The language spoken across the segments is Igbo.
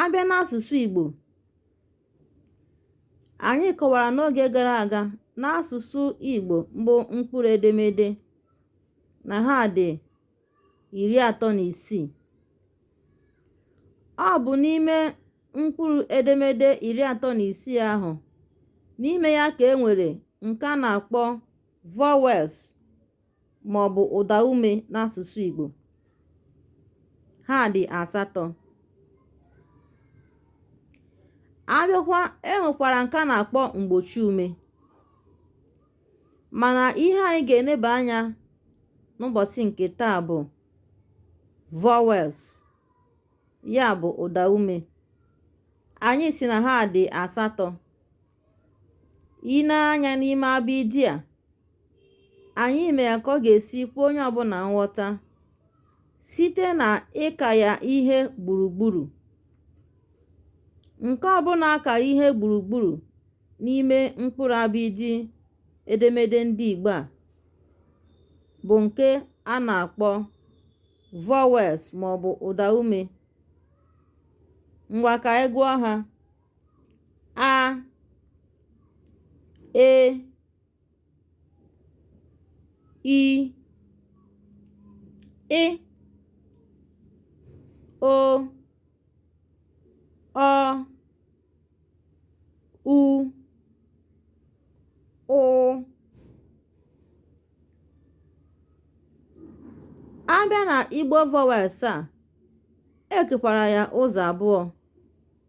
a bịa n'asụsụ Igbo anyị kọwara n'oge gara aga n'asụsụ Igbo bụ mkpụrụ edemede na ha dị iri atọ na isii ọ bụ n'ime mkpụrụ edemede iri atọ na isii ahụ n'ime ya ka e nwere nke a na-akpọ vowels ma ọ bụ ụdaume n'asụsụ Igbo. Ha dị asatọ. A bịakwa e nwekwara nke a na-akpọ mgbochiume Mana ihe anyị ga-eneba anya n'ụbọchị nke taa bụ vowels ya bụ ụdaume. Anyị sị na ha dị asatọ. i nee anyā n'ime abịịdịị à ànyị mee yà kà ọ gà-èsi kwe onye ọbụnà nghọta site nà ịkà yà ihe gbùrùgburù ǹke ọbụnā a kàrà ihe gbùrùgburù n'ime mkpụrụ abịịdịị edemede ndị ìgbo à bụ̀ ǹke a nà-àkpọ vowels màọ̀bụ̀ ụ̀dàume ngwà kà ànyị gụọ hā a e i ị o ọ u ụ a bịa na igbo vowels a e kekwara ya ụzọ abụọ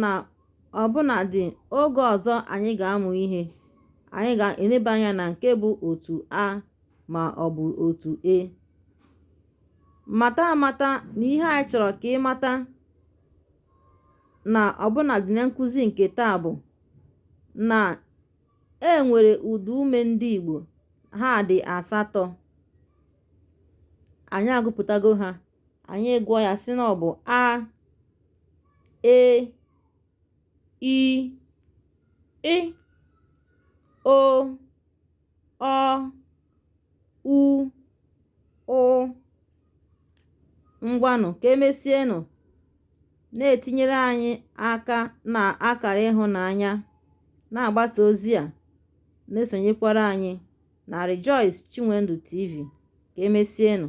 na ọbụnadị oge ọzọ anyị ga-amụ ihe, anyị ga-eneba anya na nke bụ otu A ma ọ bụ otu E. Mata amata na ihe anyị chọrọ ka ị mata na ọbụnadị na nkụzi nke taa bụ na e nwere ụdaume ndị Igbo ha dị asatọ anyị agụpụtago ha anyị gụọ ya sị na ọ bụ a e i ị o ọ u ụ ngwanụ ka emesienụ na-etinyere anyị aka na akara ịhụnanya na-agbasa ozi a na-esonyekwara anyị na Rejoice Chinwendu TV. Ka emesienụ.